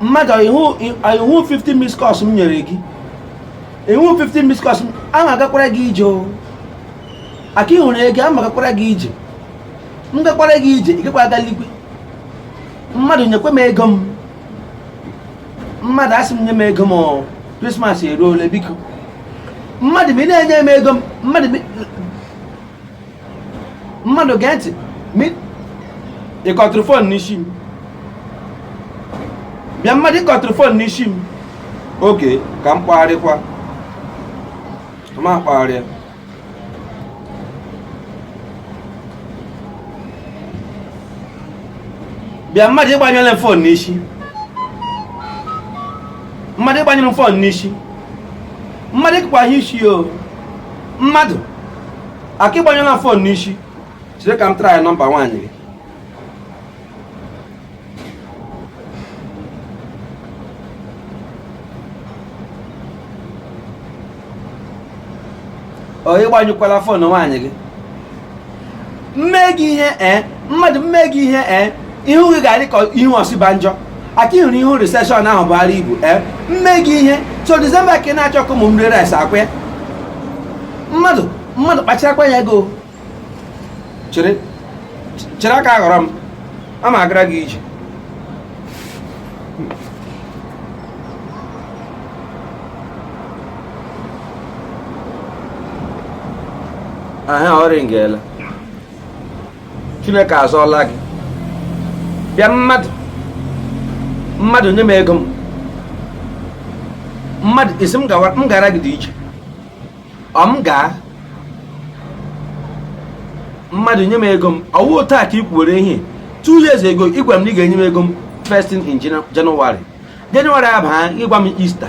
mmadụ ị hụ 50 miss calls m nyere gị ị hụ 50 miss calls a m agakwara gị ije o aka ị hụrụ ego a m agakwara gị ije m gakwara gị ije ị gakwa aga eligwe mmadụ nyekwa m ego m mmadụ a sị m nye m ego m krismas eruola biko mmadụ ma ị na-enye m ego m mmadụ mmadụ gee ntị ị kọtụrụ fon n'isi m bịa mmadụ ị kọtụrụ fon n'isi m okay ka m kpagharịkwa m akpagharịa bịa mmadụ ị gbanyụla m fon n'isi mmadụ ị gbanyụrụ m fon n'isi mmadụ ịkpagha isi o mmadụ aka ị gbanyụla fon n'isi chere ka m try nọmba nwaanyị gị ọ ị gbanyụkwala fon nwaanyị gị m mee gị ihe ee mmadụ m mee gị ihe ee ihu gị ga-adị ka ihu Osinbajo aka ị hụrụ ihu recession ahụ Buhari bu ee m mee gị ihe so disemba ka ị na-achọ ka ụmụ m rie rice akwa ya mmadụ mmadụ kpacharakwa anya gị o chere chere aka aghọrọ m a m agara gị ije aha ọ ringela chineke azọọla gị bịa mmadụ mmadụ nye m ego m mmadụ ị sị m gara gị dị iche ọ m gaa mmadụ nye m ego m ọ wụ taa ka ị kwuwere ihe two years ago ị gwara m na ị ga-enye m ego m first thing in January January abaa ị gwa m Easter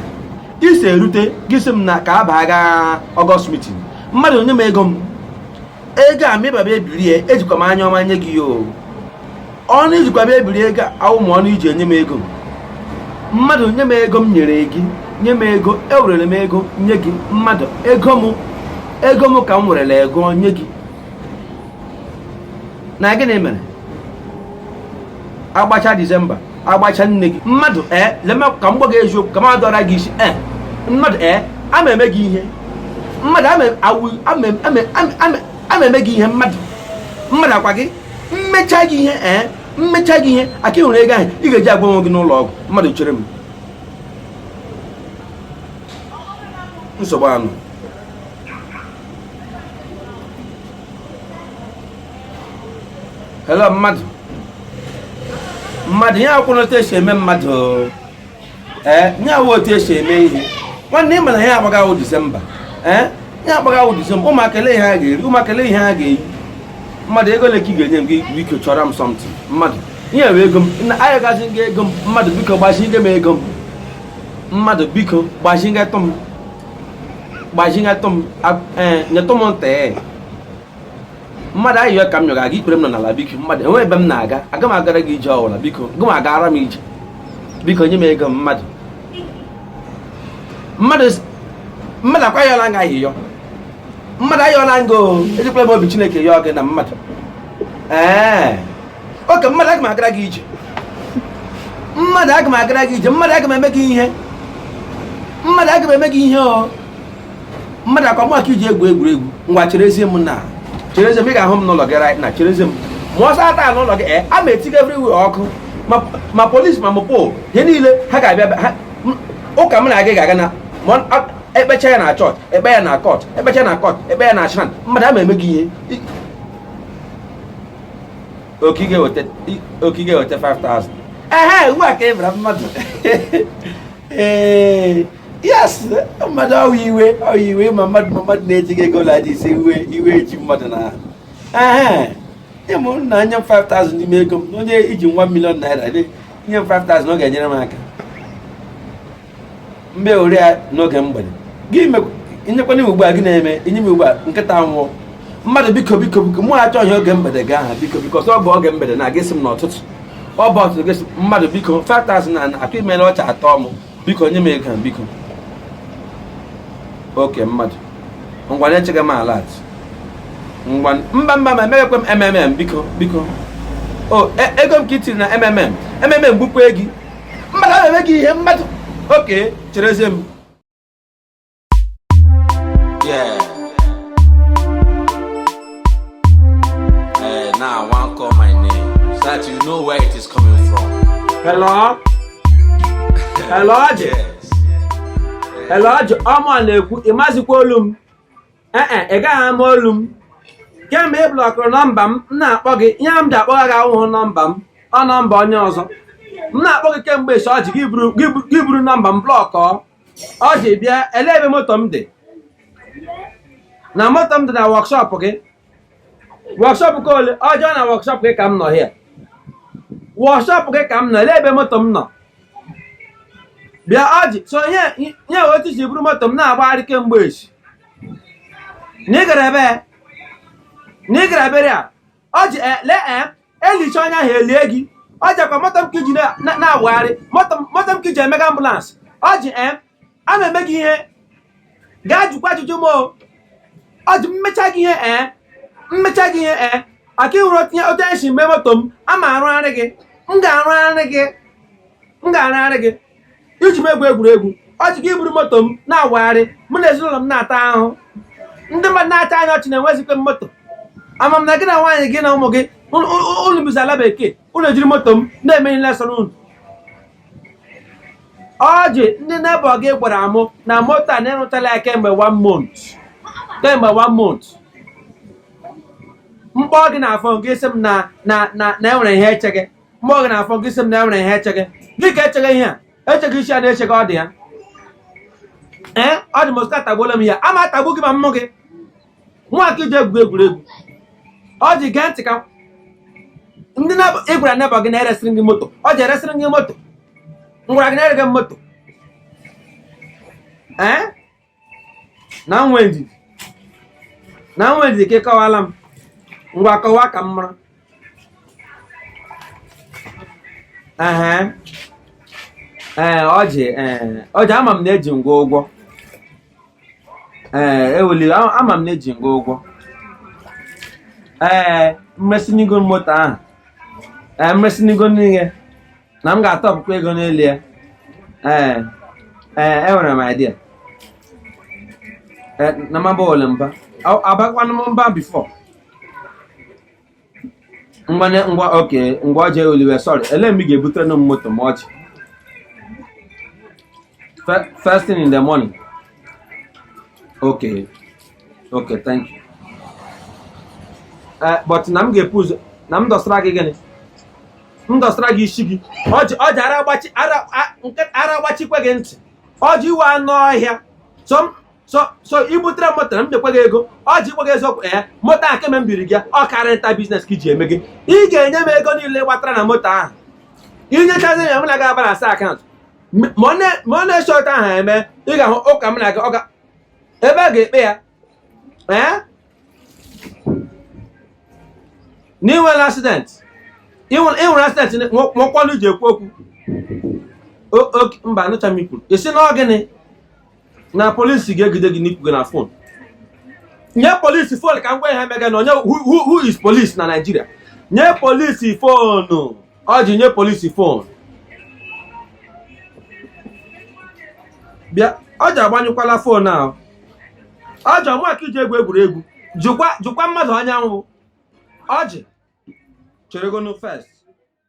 Easter erute gị sị m na ka abaa gaa August meeting mmadụ nye m ego m ego a mịbaba ebirie ejikwa m anya ọma nye gị ya o ọnụ i jikwa bịa ebiri ego awụ ma ọnụ i ji enye m ego mmadụ nye m ego m nyere gị nye m ego ewerere m ego nye gị mmadụ ego m ego m ka m werere ego nye gị na gịnị mere agbacha disemba agbacha new year mmadụ ee eh, lema ka m gwa gị eziokwu ka m adọra gị isi ee eh, mmadụ ee eh, a m eme gị ihe mmadụ a m eme gị ihe mmadụ mmadụ akwa gị m mecha gị ihe ee m mecha gị ihe aka ị hụrụ ego ahụ ị ga-eji agwọ onwe gị n'ụlọ ọgwụ mmadụ chere m nsogbu anụ hello mmadụ mmadụ ihe a awụghị otu esi eme mmadụ ee eh, ihe a awụ otu esi eme ihe nwanne ị ma na ihe a gbaga wụ disemba ee eh, ihe a gbaga wụ disemba ụmụaka ele ihe ha ga-eri ụmụaka ele ihe ha ga-eyi mmadụ ego ole ka ị ga-enye m gị biko chọrọ m something mmadụ ihe bụ ego m na-ayọgazi gị ego m mmadụ biko gbazinye m ego m mmadụ biko gbazinyetụ m gbazinyetụ m eh, nyetụ m ntị mmadụ ayịyọ ka m yọga gị ikpere m nọ n'ala biko mmadụ enwe ebe m na-aga aga m agara gị ije ọwụla biko gị ma agara m ije biko nye m ego m mmadụ mmadụ mmadụ akwa ayọla m gị ayịyọ mmadụ ayọla m gị o ejikwala m obi chineke yọọ gị na mmadụ ee oke mmadụ aga m agara gị ije mmadụ aga m agara gị ije mmadụ aga m eme gị ihe mmadụ aga m eme gị ihe o mmadụ akwa mụ ka i ji egwu egwuregwu ngwa cherezie m na cherezie m ị ga-ahụ m n'ụlọ gị right na cherezie m ma awụsa taa n'ụlọ gị eh, a ma etiga everywhere ọkụ ma polisi ma mopol ihe niile ha ga-abịa ụka m na gị ga-aga na ekpecha ya na chọọchị ekpe ya na kọt ekpecha na kọt ekpe ya na shrine mmadụ ama eme gị ihe oke ị ga-eweta 5000 ehe ugbu a ka ị bịara mmadụ ee yes mmadụ ọ wụ iwe ọ wụ iwe ma mmadụ ma mmadụ na-eji gị ego laji ise iwe iwe eji mmadụ na ahụ ịmụ na nye m 5000 n'ime ego m onye i ji one million naira nye m 5000 ọ ga-enyere m aka mgbe ole ya n'oge mgbede gị nyekwanye m ugbu a gị na-eme inye m ugbu a nkịta nwụọ mmadụ biko biko biko mụ achọ ihe oge mgbede gị ahụ biko biko ọsọ ọ bụ oge mgbede na gị asị m n'ụtụtụ ọ bụ ụtụtụ gị mmadụ biko 5000 na atụ imere ọcha atọ m biko nye m ego a biko oke mmadụ ngwa na-echekwa m alert ngwa mba mba ma emeghekwe m mmm biko biko o e, ego m ka i tiri na mmm mmm gbukwe gị mmadụ aga m eme gị ihe mmadụ oke cherezie m Yeah. Eh, now I want call my name so that you know where it is coming from. Hello? Hello, Ọjị? Yes. Hello, Ọjị? Ọ mụ na-ekwu, ị mazikwa olu m? Ee e, ị gaghị ama olu m. Kemgbe ị blọkụrụ nọmba m, m na-akpọ gị, ihe m ji akpọgha gị awụhụ nọmba m, ọ nọmba onye ọzọ. M na-akpọ gị kemgbe echi Ọjị gị buru- gị bu- gị buru nọmba m blọkọọ. ọjị bịa ele ebe moto m dị na moto m dị na wọkshọp gị wọkshọp nke ole ọjị na wọkshọp gị ka m nọ hịa wọkshọp gị ka m nọ ele ebe moto m nọ bịa ọjị so nye nye otu i si buru moto m na-agbagharị kemgbe echi na ị gara ebe na ị gara burial ọjị ele e e lichaa onye ahụ e lie gị ọjị ọ kwa moto m ka i ji na- na- na-awagharị moto m- moto m ka i ji emega ambụlansị ọjị em ama eme gị ihe gaa jụkwa ajụjụ m o ọjị m mechaa gị ihe ee m mechaa gị ihe ee aka ịhụrụ otu i si mee moto m ama arụgharị gị m ga-arụgharị gị m ga-arụgharị gị i ji m egwu egwuregwu ọjị gị iburu moto m na-awagharị mụ na ezinụlọ m na-ata ahụ ndị mmadụ na-achị anyị ọchị na enwezikwe m moto ama m na gị na nwaanyị gị na ụmụ gị unu bizi ala bekee unu ejiri moto m na-eme ihe sọrọ unu ọjị ndị nebọ gị gwara mụ na moto a na ị rụchaala ya kemgbe one month kemgbe one month m kpọọ gị na fon gị sị m na na na na e nwere ihe e chege m kpọọ gị na fon gị sị m na e nwere ihe e chege gịnị ka e chege ihe a e chege ị sị na e chege ọ dị ya ee ọjị mọskito atagbuola m hịa ama atagbu gị ma m hụ gị mụwa ka i ji egwu egwuregwu ọjị gee ntị ka ndị na- ị gwara nebọ gị na e resịrị gị moto ọjị e resịrị gị moto m gwara gị na e rege moto ee na m nwee ndidi na m nwee ndidi ka ị kọwaara m ngwa kọwa ka m mara ehe ee ọjị ee ọjị ama m na eji m gị ụgwọ ee eweli a- ama m na eji m gị ụgwọ ee m resịnụ gị moto ahụ ee m resịnụ gị n'ihi na m ga-atọpụkwa ego n'elu ya ee ee enwere m idea Eh, na m abala mba Ọ- abakwanụ m mba bifọ ngwa ne- ngwa okay ngwa ọjị ewela iwe sọrị ele mgbe ị ga-ebuterenụ m moto m echi Fe- first thing in the morning okay okay thank you eh, but na m ga-ebu ụzọ na m dọsara gị gịnị m dọsara gị isi gị ọjị ara agbachi ara agbachikwa gị ntị ọjị ị wụ anụ ọhịa so i butere moto na m nyekwa gị ego ọjị m gwa gị eziokwu ee eh, moto ahụ kemgbe m biri gị ọ car rental biznes ka i ji emege ị ga-enye m ego niile gbatara na moto ahụ i nyechazie ya m na gị abalansịa akaụntụ ma ọ na-esi otu ahụ eme ị ga-ahụ ụka m na gị ọ ka ebe a ga-ekpe ya ee na i nwere asident i nwere asident nwekwa ọnụ ji ekwu okwu mba anụcha m ikwu ị sị na ọ gịnị na polisi ga-egide gị n'ikwu gị na fon nye polisi fon ka m gwa ihe mega na onye who is polisi na naijiria nye polisi fonu ọjị nye polisi fon bịa ọjị agbanyụkwala fon ahụ ọjị ọ mụa ka i ji egwu egwuregwu jụkwa mmadụ onye m wụ ọjị cheregonu fest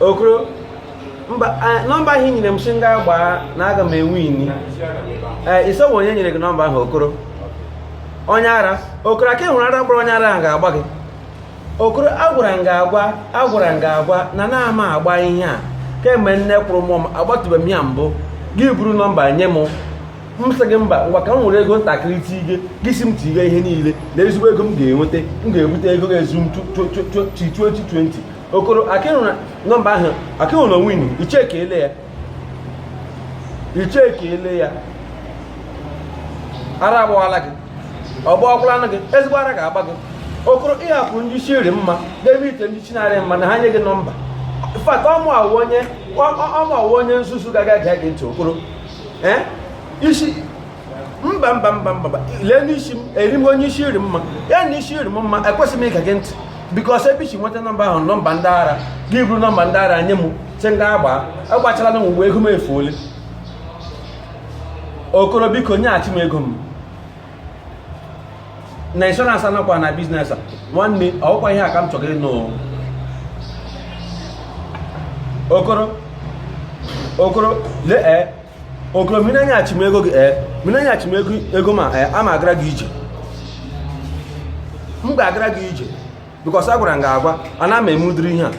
okoro nọmba ahụ i nyere m sị m ga gbaa na aga m ewini ee eh, ị sị ọ wụ onye nyere gị nọmba ahụ okoro onye ara okoro aka ị hụrụ ara gbara onye ara ahụ ga-agba gị okoro agwara m gị agwa agwara m gị agwa na anaghị m agba ihe a kemgbe nne kwụrụ mụọ m agbatụbeghị m ya mbụ gị buru nọmba nye m m sị gị mba ngwa ka m nwere ego ntakịrị tige gị sị m tige ihe niile na ezigbo ego m ga-enweta m ga-ebute ego ga-ezu m 2020 okoro aka ị hụrụ nọmba ahụ aka ị hụrụ na o wini i chekiele ya i chekiele ya ara agbawala gị ọ gbawakwalanụ gị ezigbo ara ga-agba gị okoro ị hapụ ndị isi rị mma n'ebe ite ndị isi na-arị mma na ha nye gị nọmba fat ọ mụa wụ onye ọ mụa wụ onye nzuzu ga-ege gị ntị okoro ee isi mba mba mba mba lee n'isi m eri m onye isi rị mma ya na isi rị m mma ekwesịghị m ige gị ntị bikos ebe i si nweta nọmba ahụ nọmba ndị ara gị buru nọmba ndị ara nye m sị m ga gbaa agbachala m ugbu a ego m efuole okoro biko nyeghachi m ego m na inshọransị anọkwa na biznes a nwanne ọ kwa ihe a ka m chọrọ ịnụ okoro okoro lee eh, okoro ma ị na-enyeghachi m ego gị ee eh, ma ị na-enyeghachi m ego m a ee eh, ama agara gị ije m ga-agara gị ije bikọs agwara m gị agwa ana m eme ụdịrị ihe a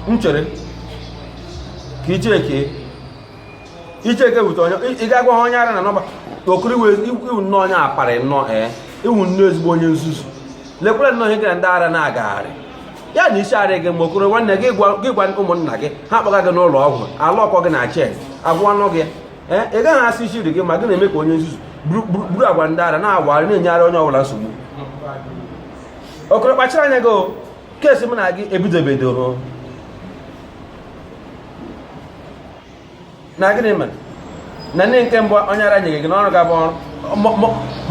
m chere ka icheke icheke wute onye ị ga-agwa ha onye ara na nọmba okoro ị wụ nnọọ onye apari nnọọ ee eh, ị wụ nnọọ ezigbo onye nzuzu lekwere nnọọ ihe gị na ndị ara na-agagharị ya na isi arị gị mma okoro nwanne gị gwa ụmụnna gị ha kpọga gị n'ụlọ ọgwụ ala ọkọ gị na chen agwọọnụ gị ee ị gaghị asị isi rị gị mma gị na-eme ka onye nzuzu buru agwa ndị ara na-awagharị na-enyegharị onye ọbụla nsogbu okoro kpachara anya gị kesi m na gị ebidobedoro na gịnị mere na ndị nke mbụ onye ara nyere gị n'ọrụ ga-abụ ọrụ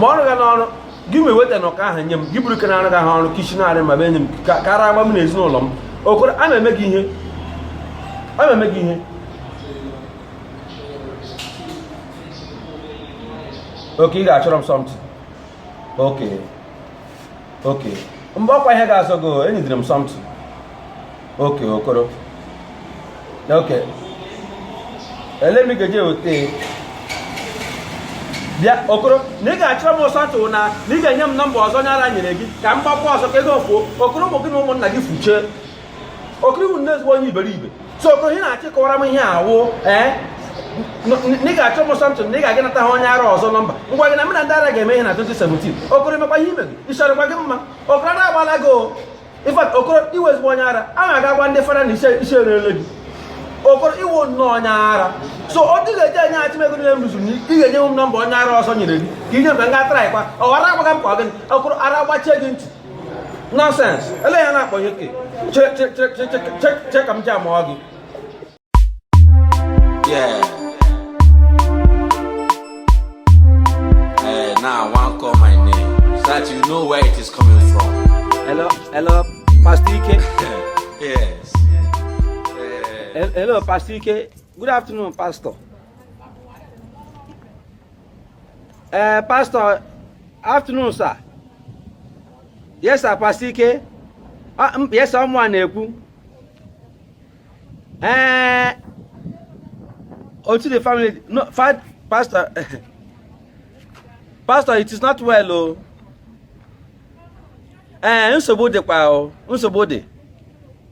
ma ọrụ ga n'ọrụ gị ma eweta na ụka ahụ nye m gị buru ke na-arụ gị ahụ ọrụ ka ishi na-arị mma be enye m ka ara agba m na ezinụlọ m okoro a na-eme gị ihe a na-eme gị ihe oke ị ga-achọrọ m something okay okay mgbe ọkwa ihe ga-azọ gị enyidere m something okay okoro okay ele m ga-eji eweta bịa okoro na ị ga-achọrọ m something na na ị ga-enye m nọmba ọzọ onye ara nyere gị ka m gbakwa ọzọ ka ego fuo okoro ụmụ gị na ụmụnna gị fuchee okoro ị wụ nnọọ ezigbo onye iberibe so okoro ị na-achịkọwara m ihe awụ ee na ị ga-achọ m something na ị ga-aga nata ha onye ara ọzọ nọmba ngwa gị na m na ndị ara ga-eme ihe na 2017 okoro emekwa ihe ime gị ịchọrọkwa gị mma okoro ara agbala gị o in fact okoro ị wụ ezigbo onye ara a na-aga gwa ndị fada na isi erele gị okoro ị wụ nnọọ onye ara so ọ dị ga-eji enye achị ego niile m rụzuru ị ga-enye m nọmba onye ara ọzọ nyere gị ka ị nye m ka m ga traịkwa ọ ghara agbaga m ka ọ gịnị okoro ara gbachie gị ntị nọsens ele ya na-akpọ ya oke che ka m ji amụọ gị Yeah. Hey, now I want call my name so that you know where it is coming from. Hello, hello, Pastor Ike. yes. Hello, Pastor Ike. Good afternoon, Pastor. ee eh, pastọ afternoon sir yes sir pastọ ike ah, yes sir ọ mụwa na-ekwu ee eh, how the family no pastọ pastọ it is not well o oh. ee eh, nsogbu dịkwa o oh. nsogbu dị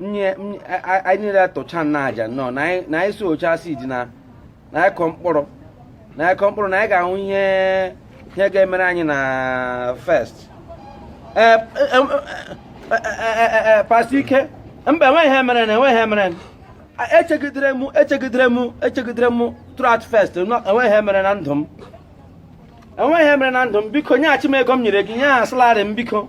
ị sị anyị niile tụcha na aja nnọọ na anyị sowchaa seed na na anyị kọ mkpụrụ na anyị kọ mkpụrụ na anyị ga-ahụ ihe ihe ga-emere anyị na first ee pastọ ike mba enweghị ihe mere na enweghị ihe mere echegidere m echegidere m echegidere m throughout first enweghị ihe mere na ndụ m enweghị ihe mere na ndụ m biko nyeghachi m ego m nyere gị ihe ahụ salary m biko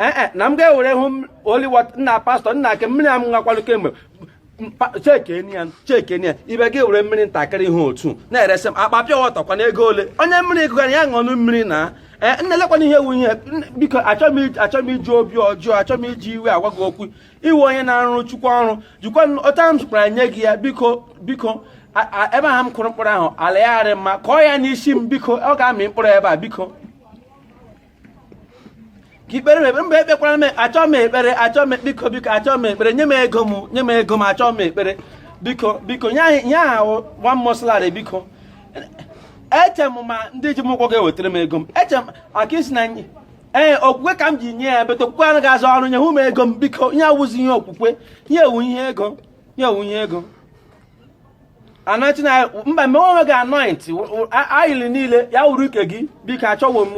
ee eh, eh, na m ga-ewere holy water nna pastọ nna ake mmiri a m ṅakwanụ kemgbe chekenia chekenia ibe gị were mmiri ntakịrị ihe otu na-eresị m akpa pure water kwana ego ole onye mmiri gụgara ya ṅụọnụ mmiri na ee eh, nna lekwana ihe wụ ihe biko achọghị m iji obi ọjọọ achọghị m iji iwe agwa gị okwu iwe onye na-arụ chukwu ọrụ jikwa ọta m zụkwara nye gị ya biko biko ebe ahụ m kụrụ mkpụrụ ahụ ala ya arị mma kọọ ya n'isi m biko ọ ga-amị mkpụrụ ebe a biko ka ị kpeere m ekpere mba ekpekwara m achọọ m ekpere achọọ m biko biko achọọ m ekpere nye m ego m nye m ego m achọọ m ekpere biko biko ihe ahụ one month salary biko eche m ma ndị ji m ụgwọ ga-ewetara m ego m eche m ka ị sị na ee okwukwe ka m ji nye ya but okwukwe anaghị arụ ọrụ nye hụ m ego m biko ihe a awụzi ihe okwukwe ihe a wụ ihe ego ihe a wụ ihe ego anointing oil mba mgbe onwe gị anoint ayịlị niile ya wụrụ nke gị biko achọwo m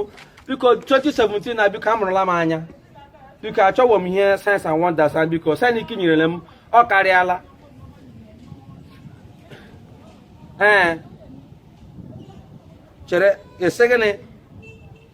biko 2017 na biko amụrụla m anya biko achọwo m ihe signs and wonders biko sanik nyerele m ọ karịala ee chere ị sị gịnị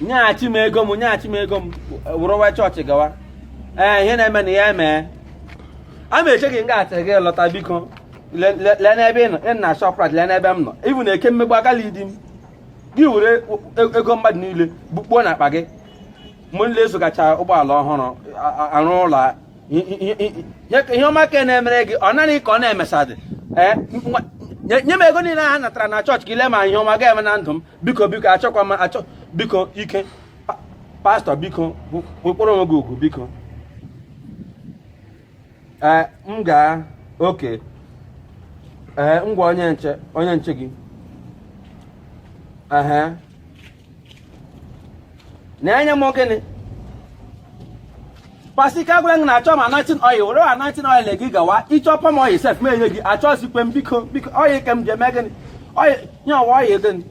nyeghachi m ego m nyeghachi m ego m wụrụwa chọọchị gawa ee ihe na-eme na ya emee a m eche gị nga a till gị lọta biko le- le- lee n'ebe ị nọ ị nọ na Shoprite lee n'ebe m nọ ibu na Eke Mmegbu agala idi m gị were e- ego mmadụ niile bukpuo na akpa gị mgbe niile azụgacha ụgbọala ọhụrụ a- a- arụ ụlọ a- i- i- i- i- nye ka ihe ọma ka na-emere gị ọ naanị gị ka ọ na-emesadị ee nwa- nye nye m ego niile ha natara na chọọchị ka e lee ma ihe ọma ga-eme na ndụ m biko biko achọkwa m achọ biko ike pastọ biko kpọrọ onwe gị ugwu biko ee m gaa okay ee ngwa onye nche onye nche gị ehe na-enye m gịnị pasi ka gwara gị na achọ m anointing oil were anointing oil gị gawa ị chọọ palm oil sef m enye gị achọzikwe m biko biko oil ka m ji eme gịnị oil nye ọwa oil gịnị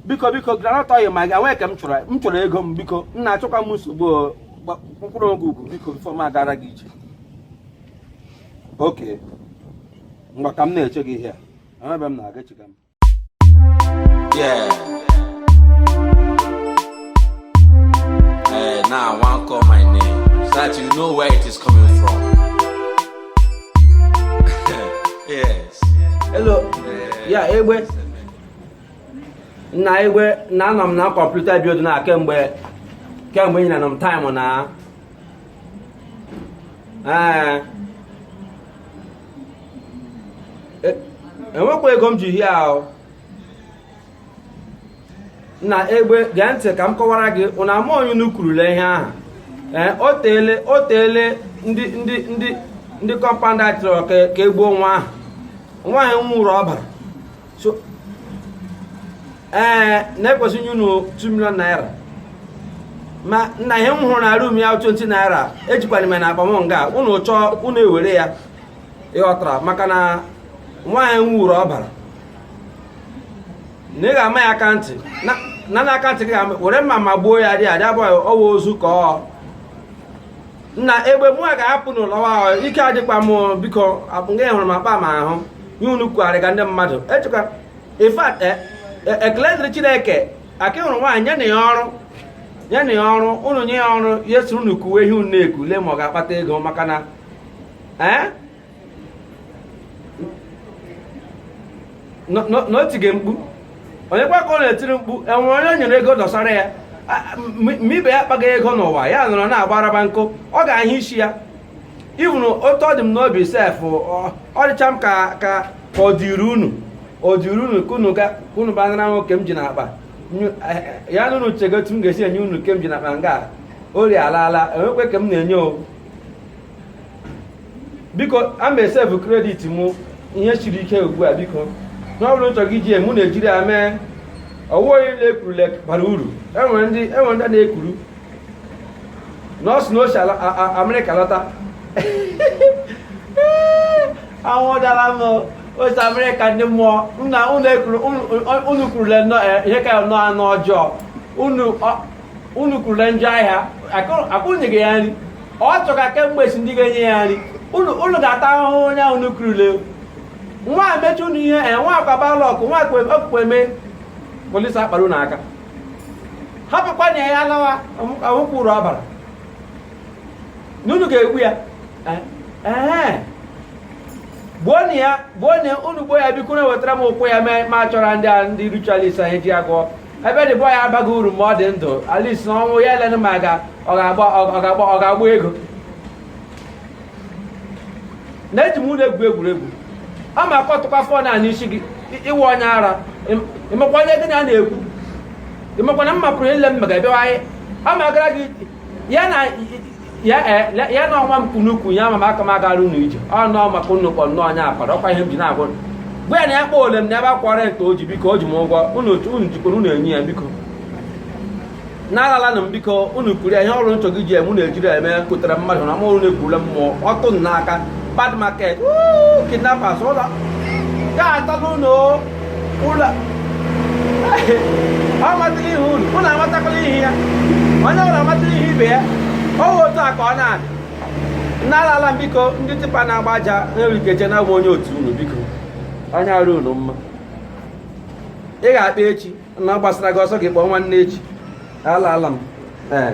biko biko groundnut oil ma gị enwee ka m chọrọ m chọrọ ego m biko nna achọkwa m nsogbu kpọrọ onwe gị ugwu biko before m agara gị ije okay ngwa ka m na-eche gị ihe a ebe m na-aga echiga m Yeah. Eh, now I want call my name so that you know where it is coming from. yes. Hello. Yeah Egbe. Nna Egbe na anọ m na computer bi na kemgbe kemgbe ị na-anọ m time na. Ee. e, enwekwa ego m ji hie ahụ nna Egbe gee ntị ka m kọwara gị ụna ama onye unu kwurule ihe ahụ ee o teele o teele ndị ndị ndị ndị compound a chọrọ ka e gbuo nwa ahụ nwaanyị nwụrụ ọbara so ee eh, na e kwesị inye unu 2 million naira ma nna ihe m hụrụ na room ya 20 naira ejikwanụ m na akpa m nga unu chọọ unu ewere ya ị ghọtara maka na nwaanyị nwụrụ ọbara na ị ga-ama ya aka ntị na na aka ntị gị were mma magbuo ya dị adị abụghị ọ wụ ozu ka ọ nna Egbe mụ a ga-apụ n'ụlọ ahụ ike adịkwa m biko nga ahụrụ m akpa m ahụ ihe unu kugharịga ndị mmadụ echekwa in fact e, e, ekele dịrị Chineke aka hụrụ nwaanyị nyenụ ya ọrụ nyenụ ya ọrụ unu nye ya ọrụ ya soro unu kuwe ihe unu na-eku lee ma ọ ga-akpata ego maka na ee eh? na o tige mkpu onye kwa ka ọ na-etiri mkpu enwere onye o nyere ego dọsara ya ma ibe ya akpaghị ego n'ụwa ya nọrọ na-agbaraba nkụ ọ ga-ahụ isi ya ivụrụ otu ọ dị m n'obi sef ọ dịcha m ka ka ọ dịrị unu ọ dịrị unu ka unu bịa nara nwa nke m ji n'akpa ya na unu chego otu m ga-esi enye unu nke m ji n'akpa nga ori alaala enwekwe ka m na-enye ọwụ biko ama esevu credit mụ ihe siri ike ugbu a biko ihe ọ bụla unu chọga iji ya mee unu ejiri ya mee o nwehụ onye unu kurule bara uru enwere ndị enwere ndị na-ekuru nọọsụ na o si amerịka lọta anwụ dara m o si amerịka ndị mmụọ nna unu kurule ihe ka ya nọ anụ ọjọọ unu unu kurule njọ ahịa akwụnyeghị ya nri ọ chọga kemgbe si ndị ga-enye ya nri unu ga-ata ahụhụ onye ahụ unu kurule nwa mechi unu ihe e nwa akwa bad luck nwa okpukpe mee police akpara unu aka hapụkwanụ ya lawa ahụkwụ uru ọbara na unu ga-egbu ya eh, eh. gbuonụ ya gbuo na unu gbuo ya biko na wetara m ụkwụ ya ma chọrọ ndị a ndị ritualist anyị ji agwọ ebe the boy abaghị uru ma ọ dị ndụ at least na ọnwụ ya elenụ ma ga ọ ga-agba ọ ga-agba ọ ga-agba ego na eji m unu egwu egwuregwu ọ ma akụtụkwa phone a n'isi gị ị wụ onye ara ịmakwa onye gị na ya na-ekwu ịmakwa na m hapụrụ ihe m mega bịawa anyị ọ ma gara gị ya na ya e, ya- ya na ọnwa m kunukwu ya ma m aka m agara unu ije ọ nọọ maka unu kpọ nnọọ onye akpara ọkwa ihe m ji na-agwa unu. gwa ya na ya akpọle m na ebe akwara ete o ji biko o ji m ụgwọ unu otu unu jikwara unu enye ya biko na alaalanụ m biko unu kuru ya ihe ọwụla unu chọga iji eme unu ejiri ya eme kutara mmadụ na ma unu ekurula mmụọ ọtụ m n'aka bad market woo, kidnappers unu ga-ata n'ụlọ ụlọ amatala ihu unu unu amatakwala ihu ya onye ọwụla amatala ihu ibe ya ọwụ otu a ka ọ na-adị na alaala m biko ndị tipper na-agba aja na-erike eche na awụ m onye otu unu biko anya arị unu mma ị ga-akpọ echi na ọ gbasara gị ọ sọ gị kpọọ nwanne echi alaala m ee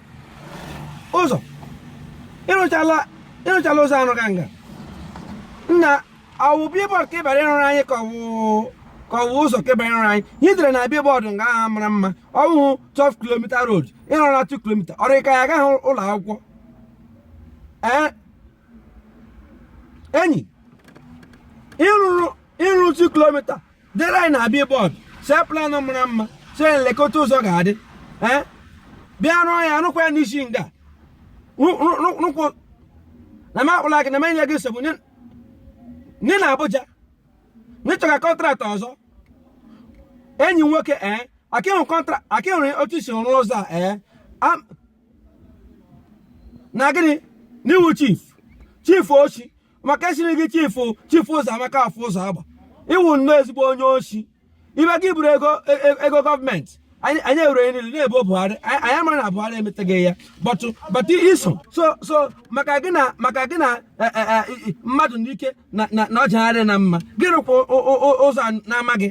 ụzọ ịrụchala ịrụchala ụzọ arụga nga nna ọwụ billboard ka ị bịara ịrụrụ anyị ka ọwụ ka ọwụ ụzọ ka ị bịara ịrụrụ anyị ihe dere na billboard nga ahụ mara mma ọwụhụ 12 kilomita road ịrụrụ na 2 kilomita ọ rị ka ya agaghị ụlọ akwụkwọ ee enyi ịrụrụ ịrụ 2 kilomita dere anyị na billboard see planụ mara mma see lekwa otu ụzọ ga-adị ee bịa rụọ ya rụkwa ya n'isi nga Rụ- rụ- rụ- rụkwa na m akpụla gị na m enye gị nsogbu nye nye na Abuja n'ịchọga kọntraktị ọzọ enyi m nwoke ee aka wụ kọntra aka wụrụ otu i si rụọ ụzọ a ee Am- na gịnị na ị wụ chief chief oshi maka esiri gị chifu chifu Ụzọamaka Afọ Ụzọagba ị wụ nnọọ ezigbo onye oshi ibe gị buru ego e, e, ego gọọmenti anyị ewere niile na-ebo Buhari anyị mara na Buhari emetaghị ya but but i so so so maka gị na maka gị na e, mmadụ n'ike na na ọjagharị na ma gị rụkwa ụzọ na-amaghị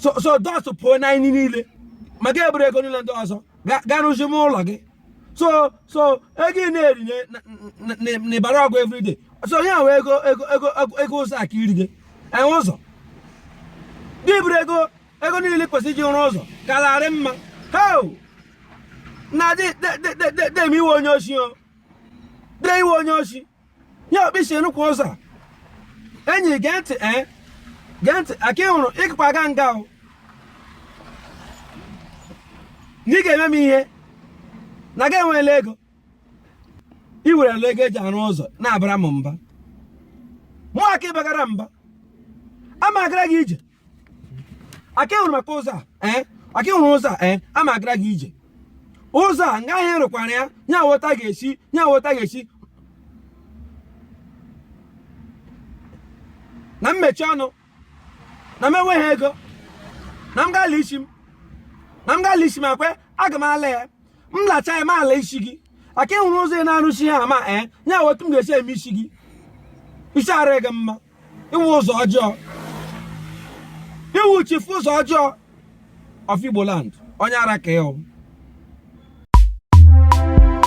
so so dust pụọ n'anyị niile ma gị eburu ego niile ndị ọzọ gaa rụzima ụlọ gị so so ego ị na-eri n'ịbara ọgụ everyday so ya nwe ego ego ego ego ụzọ aka iri gị enwe ụzọ gị buru ego ego niile kwesịrị iji rụọ ụzọ kararị mma heo na dee dee dee dee dee ị wụ onye oshi o dee ị wụ onye oshi ya okpisi rụkwa ụzọ a enyi gee ntị ee eh? gee ntị aka wụrụ ịkpa aga nga o na ị ga-eme m ihe na gị enweela ego ị werela ego eji arụ ụzọ na-abara m mba mụa ka ị bagara mba a ma agara gị ije aka wụrụ maka ụzọ a eh? aka wụrụ ụzọ a eh? a ma agara gị ije ụzọ a nga ahụ rụkwara ya ya wụ otu a ga-esi ya wụ otu a ga-esi na m mechie ọnụ na m enweghị ego na m ga-ala isi m na m ga-ala isi m akwe aga m ala ya m lacha ya m ala isi gị aka wụrụ ụzọ ị na-arụsi ha ama ee eh? ya wụ otu m ga-esi eme isi gị isi arị gị mma ị wụ ụzọ ọjọọ ị wụ chifu ụzọ ọjọọ of Igbo land onye ara ka ị wụ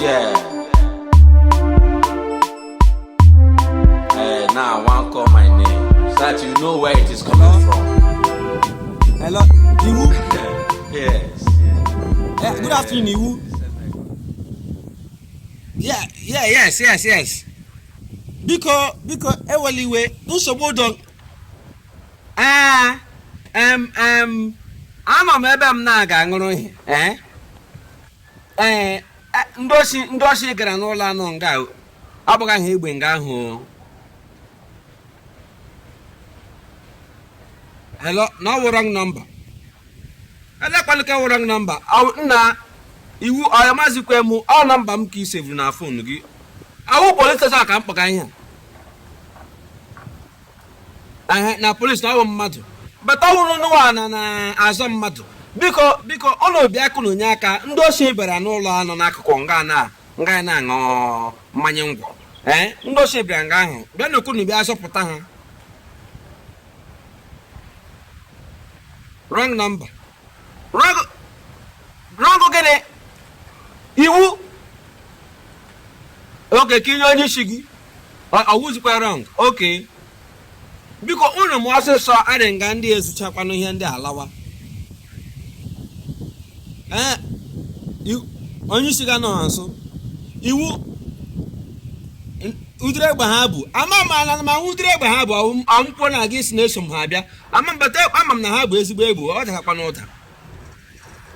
Yeah. Hey, now I want call my name so that you know where it is coming from. Hello, Iwu. yes. Eh, good afternoon, Iwu. Yeah, yeah, yes, yes, yes. biko biko ewela iwe nsogbu dị o ee em em anọ m ebe m na-aga aṅụrụ ihe ee ee e- ndị oshi ndị oshi gara n'ụlọ anọ nga o. agbagha ha egbe nga ahụ o. Hello, na ọwụ wrong number. Elekwanụ ka wrong number. Nna iwu ị mazikwa mụ ọ nọmba m ka ị sevuru na fon gị. Ọwụ polis steshọn ka m kpọga ihe. Na polis na ọwụ mmadụ. But ọwụrụ n'ụwa na na-azọ mmadụ. Biko biko ọ na Obiakụ na Onyeaka ndị osi bịara n'ụlọ anọ n'akụkụ nga na nga na-aṅụ mmanya ngwọ. Ee ndị osi bịara nga ahụ bịanụkwanụ bịa zọpụta ha. wrong number wrong wrong gịnị iwu okay ka i nye onye isi gị ọwụzikwa wrong okay biko ụnụ mee ọsịsọ adị nga ndị ezuchakwanụ ihe ndị alawa ee i- onye isi gị anọha nso iwu n- ụdịrị egbe ha bu ama m ala na ma hụ ụdịrị egbe ha bu ọwụ- ọwụkwa na a ga-asị na eso m ha abịa ama m but ama m na ha bu ezigbo egbe ọ dakakwanụ ụda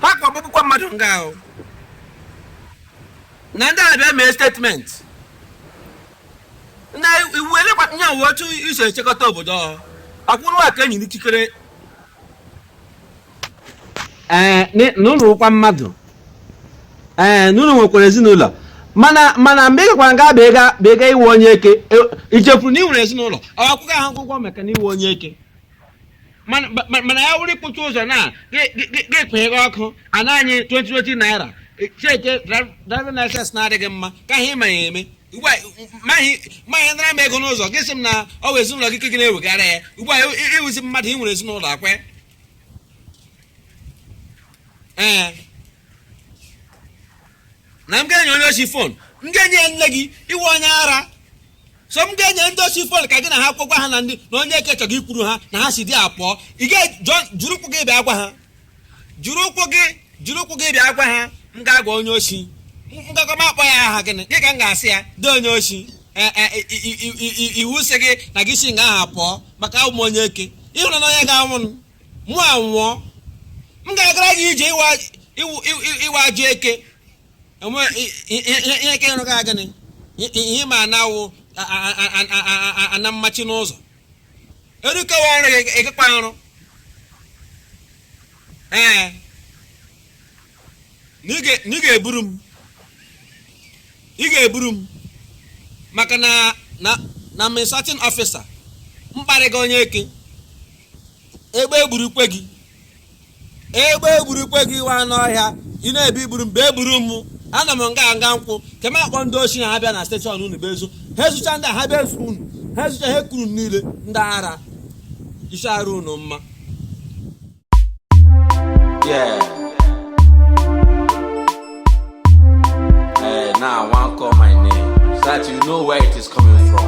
ha gbagbukwa mmadụ nga ahụ na ndị ahụ bịa mee statement nna iwu elekwa ihe wụ otu i si echekọta obodo ọ akwụrụ aka enyi n'ikikere ee na ụnụ wụkwa mmadụ ee na ụnụ nwekwara ezinụlọ mana mana mgbe ị gakwara nga bịa bịa ịwụ onye eke i chefuru na ị nwere ezinụlọ ọ akwụkwọ ahụ akwụkwọ maka na ịwụ onye eke mana ya wụrụ ikpuchi ụzọ na ga-ekpeghe ọkụ ana anyị 2020 naira cheke driving license na-adịghị mma ka ihe ịma ya eme ugbu a ma gị ma gị nara m ego n'ụzọ gị sị m na ọ bụ ezinụlọ gị ka gị na-ewegara ya ugbu a ị- ịwụzi mmadụ ị nwere ezinụlọ akwe ee na m ga-enye onye osi fon m ga-enye ya nne gị ịwụ onye ara so m ga-enye ndị osi fon ka gị na ha kwụkwa ha na ndị na onye eke chọrọ ikwuru ha na ha si there pụọ ị ga jiri ụkwụ gị bịa gwa ha jiri ụkwụ gị jiri ụkwụ gị bịa gwa ha m ga-agwa onye osi nga ahụ m akpọ ya aha gịnị gị ka m ga-asị ya dee onye osi e, e, iwu sị gị na gị si nga ahụ pụọ maka awụ m onye eke ịhụrụ na onye ga-anwụ mụ anwụọ m ga-agara gị ije ịwa ajụ eke enwe ihe ka ịrụ gị gịnị ihe ma na-awụ ana mmachi n'ụzọ erukewa ọrụ gị ịgakwa ọrụ ee na ị ga- na ị ga-eburu m ị ga-eburu m maka na na na m insulting officer m kparịga onye eke egbe egburukwe gị egbe egburukwe gị ị wụ anụ ọhịa ị na-ebi iburu m bịa buru m ana m nga nga nkwụ ka m akpọ ndị oshi na ha bịa na steshọn unu bịa ezu ha ezucha ndị a ha bịa ezu unu ha ezucha ha ekuru unu niile ndị ara isi arụ unu mma Yeah. Hey, now I want call my name so that you know where it is coming from.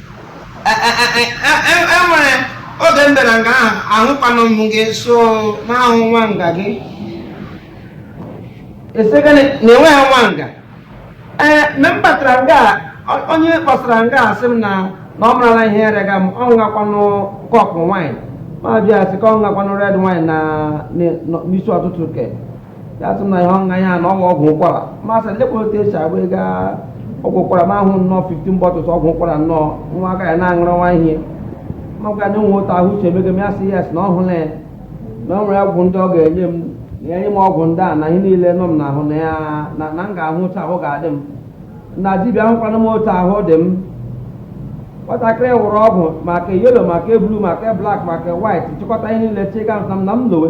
enwere oge m bịara nga ahụ ahụkwanụ m gị so n'ahụ nwa nga gị esegana na enweghị nwa nga ee mgbe m batara nga a, ọ- onye kpọsara nga a sị m na na ọ marala ihe erega m ọ ṅụgakwanụ kọpụ wine ma bịa sị ka ọ ṅụgakwanụ red wine na na- n'isi ụtụtụ ke ya sị na ihe ọ ṅụga ya na ọ wụ ọgwụ ụkwara m asị lekwa otu esi agba ego ọgwụ ụkwara m ahụ nnọọ 15 bottles ọgwụ ụkwara nnọọ nwa aka ya na-aṅụrụ nwa ị makwa na enwe otu ahụ uche emego m ya sị ya sị na ọ hụrụ ya na o nwere ọgwụ ndị ọ ga-enye m na enye m ọgwụ ndị a na ihe niile nọ m n'ahụ na ya na na m ga-ahụ otu ahụ ga-adị m na dibịa ahụkwana m otu ahụ dị m nwatakịrị wụrụ ọgwụ ma ke yellow ma ke blue ma ke black ma ke white chịkọta ihe niile chịga m na m lowe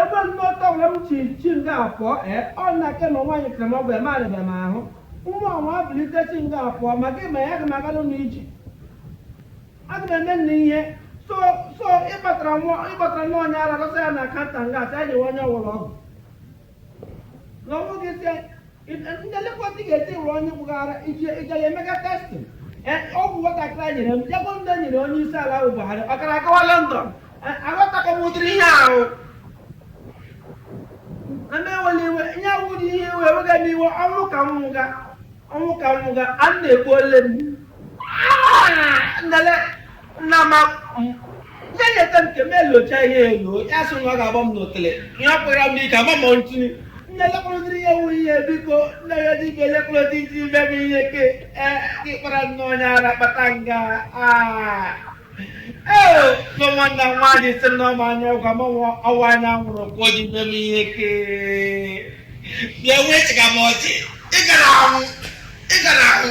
Ebe ndị ọka were m chi chi nga afọ e ọ na ke ma nwaanyị kere m ọgwụ eme arịba m ahụ nwa ọnwa abilite chi nga afọ ma gị ma ya ga m aga n'ụlọ iji aga m eme nna ihe so so ị kpatara nwa ị kpatara nwa onye ara dọsa ya na counter nga a sị ya nyewe onye ọwụla ọgwụ na ọnwụ gị sị nlekwa ndị ga-eti were onye gbụghara ije ije ya emega testing ọgwụ nwatakịrị a nyere m jegbo ndị nyere onye isi ala wụ Buhari ọ gara agawa London aghọtakọ m ụdịrị ihe ahụ ana ewela iwe ihe awụ dị ihe iwe ewega m iwe ọnwụ ka m nwụga ọnwụ ka m nwụga a na-egbu ole m nlele nna ma ndị nyeta nke m elocha ihe elo ya sị na ọ ga-agba m n'otele ihe ọ kpụra m ike agba m ntini nne lekwa ụdịrị ihe wụ ihe biko nne ya dibịa lekwa ụdị iji ime m ihe ke gị kpara nne onye ara kpata nga ee nọ nwanne nwaanyị sị na ọ ma anya ọ gwa m ọwa anya nwụrụ ka o ji ime m ihe ke bịa wee chịga m ọchị ị gara ahụ ị gara ahụ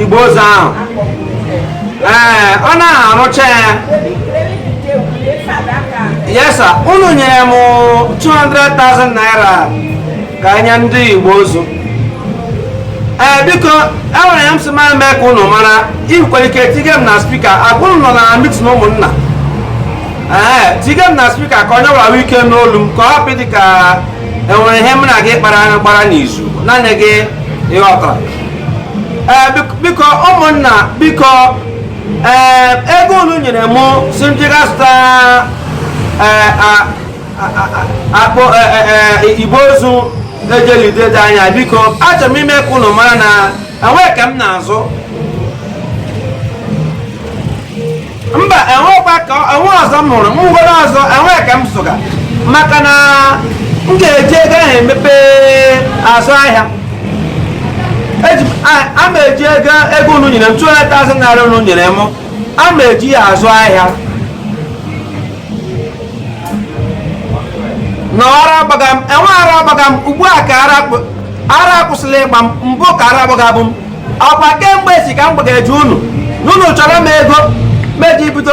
igbe ozu ahụ ee ọ naghị arụcha ya yes sir unu nyere m 200,000 naira ka e nye ndị igbe ozu ee biko enwere ihe m sị ma mee ka unu mara i nwere ike tige m na speaker ọ wụrụ unu nọ na meeting ụmụnna ee tige m na speaker ka onye ọwụla nwee ike nụ olu m ka ọ hapụ dị ka enwere ihe m na gị kpara gbara n'izu naanị gị ị ghọtara eh, biko ụmụnna biko eh, ego unu nyere m sị m ji ga zụta eh, akpọ igbe ozu e ji eli dede anyị biko achọrọ m ime ka unu mara na enweghị ka m na-azụ mba enwekwa ka enwe ọzọ m hụrụ m nwere ọzọ enweghị ka m zụga maka na m ga-eji ego ahụ emepe azụ ahịa a ma eji ego ego unu nyere m 200,000 naira unu nyere m a ma eji ya azụ ahịa na ara agbaga m enweghị ara gbaga m ugbu a ka ara akwụsịla ịgba m mbụ ka ara gbagabu m ọkwa kemgbe si ka m gbagara ju unu unu chọọrọ m ego m ji bido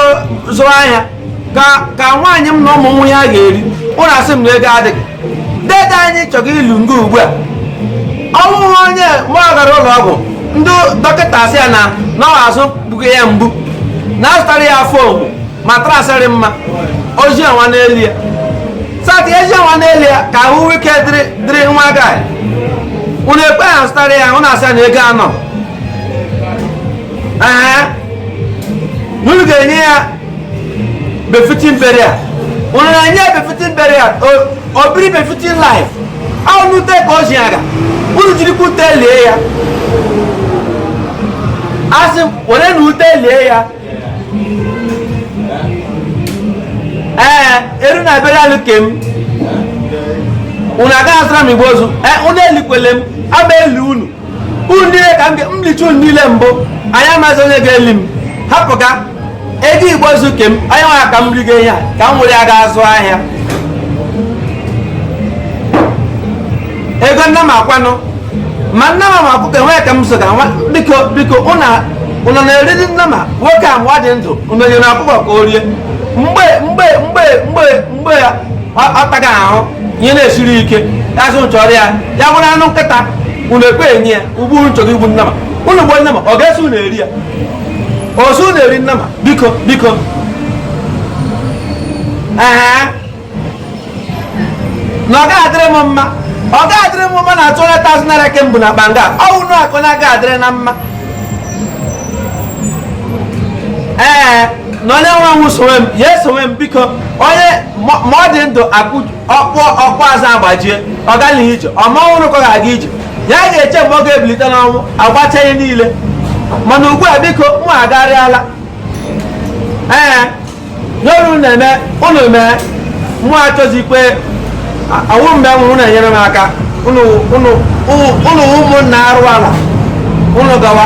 zụwa ahịa ka nwaanyị m na ụmụ nwee ihe ha ga-eri unu asị m na ego adịghị dede anyị chọrọ ili nga ugbu a ọnwụ onye ma ọ gara ụlọ ọgwụ ndị dọkịta asị ya na na ọ azụ gbuga ya mgbu na azụtara ya foam matras dịrị mma ozi ọnwa n'elu ya sati eji nwa n'elu ya ka ahụ ike dịrị dịrị nwa guy unu ekweghị azụtara ya unu asị ya na ego anọ ee na unu ga-enye ya befitting burial unu na-enye ya befitting burial o biri befitting life ahụ ute ka o ji aga unu jirikwa ute lie ya asị m were na ute lie ya ee eru na ebere alụ ke m unu agaghị azụra m igbe ozu ee unu elikwele m ama eli unu unu niile ka m lichaa unu niile mbụ anyị amaghịzi onye ga-eli m hapụga ego igbe ozu ke m onye nwa ka m rigo ihe a ka m were ya ga azụ ahịa ego nnama kwanụ ma nnama ma ọkụkọ enweghị ka m zụga nwa biko biko ụna unu na-eri ndị nnama nwoke a mgbe ọ dị ndụ unu nyere ọkụkọ ka o rie mgbe mgbe mgbe mgbe mgbe ya ọ- ọ taga ahụ ihe na-esiri ike ya sị chọọrọ ya ya bụrụ anụ nkịta unu ekweghị enye ya ugbu a unu chọrọ igbu nnama unu gbuo nnama ọ ga-eso unu eri ya ozu na-eri nnama biko biko ee na ọ ga-adịrị m mma ọ ga-adịrị m mma na 200,000 naira ke mbụ na banga ọ wụ unu akụ na aga adịrị unu mma ee na onye nwe nwụ sowe m ya esowe m biko onye ma ma ọ dị ndụ akụ ọkpụkpụ azụ agbajie ọ gaghị ije ọ ma ọ nwụrụ ka ọ ga-aga ije ya ga-eche mgbe ọ ga-ebilite n'ọnwụ agbacha ihe niile mana ugbu a biko mụ agarịala ee n'olu na-eme ụnụ mee mụ achọzikwe awụ mgbe m hụrụ na-enyere m aka ụnụ wụ ụmụnna arụ ala ụnụ gawa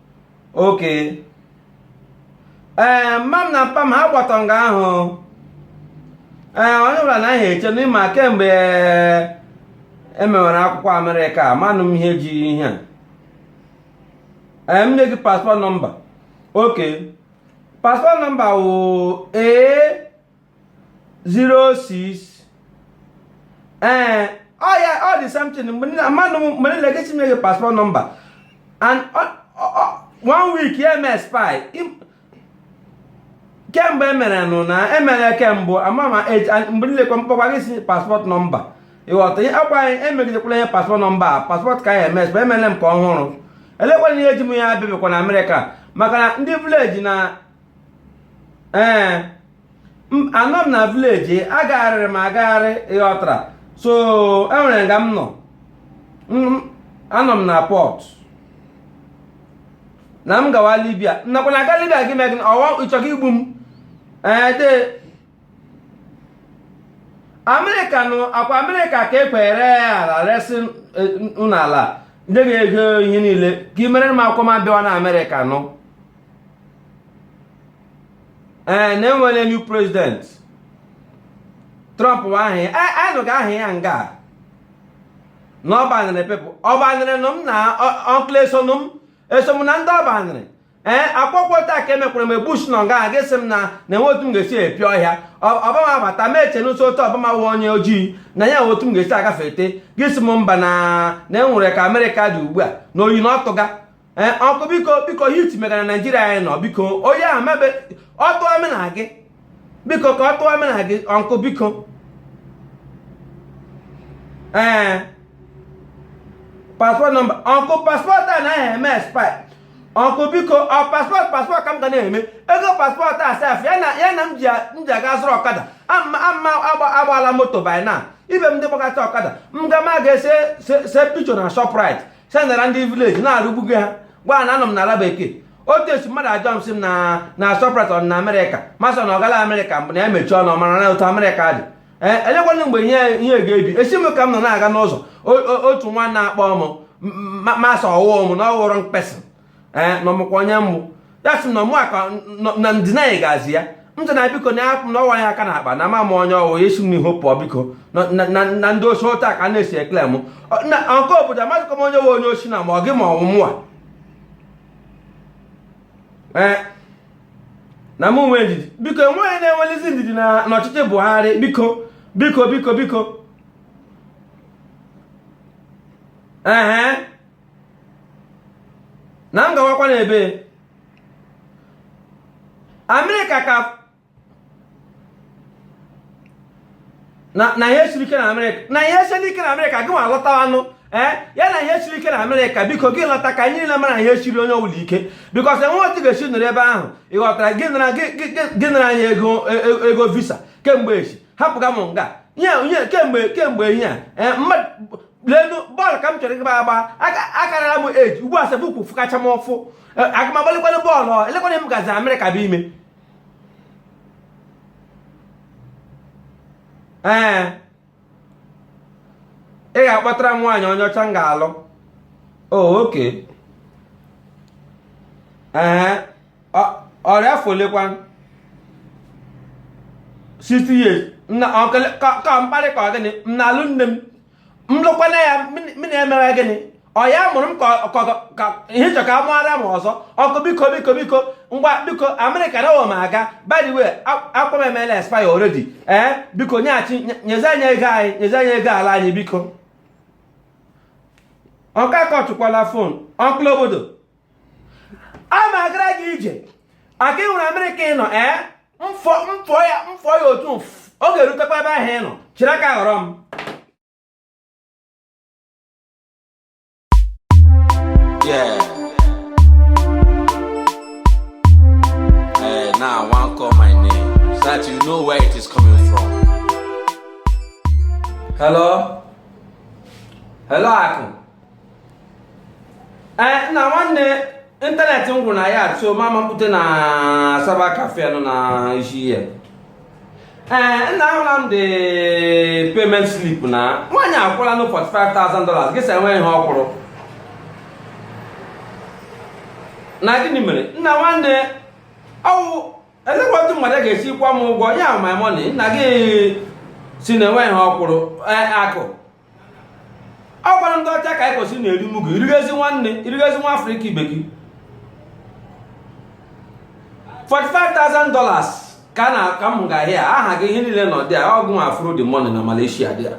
oke ee mma m na mpa m ha gbata nga ahụ ee onye ọbụla na ahịa eche n'ịma kemgbe emewere akwụkwọ amerịka manụ m ihe ji ihe a ee m nye gị paspọt nọmba oke paspọt nọmba wụ ee 06 ee ọ ya ọ dị something manụ mgbe niile gị si nye gị paspọt nọmba and one week ya eme expire kemgbe emere nụ na emere kemgbe ọbama mgbe niile kwa mkpọkwa gị si paspọt nọmba ịghọta ihe akwa anyị emegidekwala ihe paspọt nọmba a paspọt ka anyị eme expire emere m nke ọhụrụ elekwana ihe ji m ya abịabịakwa na amerịka maka na ndị vileji na ee eh, anọ m na vileji agagharịrị m agagharị ịghọtara so enwere nga m nọ anọ m na pọt na m gawa libia nakwa na aga libia gị megị ọwa ịchọga igbu m ee eh, de amerịka nụ ọ kwa amerịka ka ekwere ala resị eh, n'ala ndị ga-ego ihe niile ka i mere m akwụkwọ m abịawa na amerịka nụ ee na enwere new president trump ahụ anyị nụga aha ya nga na ọ banịrị pepụ ọ banịrị nụ m na ọnkụl esonụ m eso m na ndị ọ banịrị ee akwụkwọ taa ka emekwara mgbe bush nọ nga gị si m na na enwe otu m ga-esi epi ọhịa ọbama bata ma eche nụ si otu ọbama wụ onye ojii na ya enwe otu m ga-esi agafete gị si m mba na na enwere ka amerịka dị ugbu a na oyi na ọtụga ee ọnkụ biko biko heat mega na naijiria anyị nọ biko oyi ahụ mebe ọ tụọ mụ na gị biko ka ọ tụọ mụ na gị ọnkụ biko ee paspọt nọmba ọnkụ paspọt a naghị eme expire ọnkụ biko ọ paspọt paspọt ka m ga na-eme ego paspọt a sef ya na ya na m ji a- m ji aga zụrụ ọkada ama ama agba- agbala moto by now ibe m ndị gbakọta ọkada m ga ma ga ese se- se picho na shoprite sendara ndị vileji na-arụgbugo ha gwa na anọ m na ala bekee otu esi mmadụ ajụọ m sị m na na shoprite ọ na amerịka m asị na ọ gala amerịka mbụ na ya mechie ọnụ mara na otu amerịka dị ee elekwana mgbe ihe ihe ga-ebi esi m ka m nọ na-aga n'ụzọ o- o- otu nwa na-akpọ m m asị ọ wụọ m na ọ ghọrọ mkpesị ee eh, na ọ makwa onye m wụ ya sị na ọmụ aka na ndịna anyị ga-azị ya m sị na biko na apụ na ọwa ya aka na akpa na ama m onye ọ wụ ya si m n'ihu pụọ biko na ndị o si otu a ka na-esi ekele m na nke obodo amazikwa m onye wụ onye o si na ma ọ gị ma ọ wụ mụwa ee eh, na m nwee ndidi biko enweghị na-enwelizi ndidi n'ọchịchị Buhari biko biko biko biko Uh-huh. na m gawakwa n'ebe amerịka ka na ihe siri ike na amerịka na ihe siri ike na amerịka gịnwa lọtawanụ ee eh, ya na ihe siri ike na amerịka biko gị lọta ka anyị niile mara ihe siri onye ọbụla ike because enwe otu ị ga-esi nọrọ ebe ahụ ị ghọtara gị nara anyị e, e, ego visa kemgbe echi hapụga m nga nye kemgbe kemgbe ihe a eh, lenu bọọlụ ka m chọrọ ịgba agba akarịla m age ugbu a sef ụkwụ fụkacha m ụfụ e, aga m agbalịkwanụ bọọlụ elekwana m gazi amerịka bụ ime ee ị ga-akpọtara m nwaanyị onye ọcha m ga-alụ oh, okay ee ọ rị afọ olekwa 60 years ka mkparị ka ọ gịnị m na-alụ nne m m lụkwana ya m na-emewe gịnị ọ ya mụrụ m ka ị chọ ka a mụara m ọzọ ọkụ biko biko biko ngwa biko amerịka na m aga by the way akwa m emela expire already ee eh, biko nyeghachi nyezi anyị ego anyị nyezi anyị ego ala anyị biko ọga akọchụkwala phone uncle obodo a ma agara gị ije aka m eru amerịka ị nọ ee m fụọ m fụọ ya m fụọ ya otu a ọ ga-erutekwa ebe ahụ ị nọ chịrị aka ghọrọ m Yeah. Hey, now I want to call my name so that you know where it is coming from. Hello? Hello, Akụ. ee eh, nna nwanne ịntanetị m gwụrụ na ya so ma m pụta na cyber cafe nọ na isi ihe ee eh, nna ahụla m the payment slip na nwaanyị akwụlanụ 45,000 dollars gị sị enweghị ihe ọ kwụrụ na gịnị mere nna nwanne ọ wụ elekwa otu mmadụ ga-esi kwụọ m ụgwọ ya my money nna gị sị na enweghị ihe ọ kwụrụ eh, Akụ ọ kwara ndị ọcha ka anyị kwesịrị na-eri mugu irigezi nwanne irigezi nwa afrịka ibe gị 45,000 dollars ka na ka m ga ahịa aha gị ihe niile nọ there ọgụ nwa afro the money na malaysia there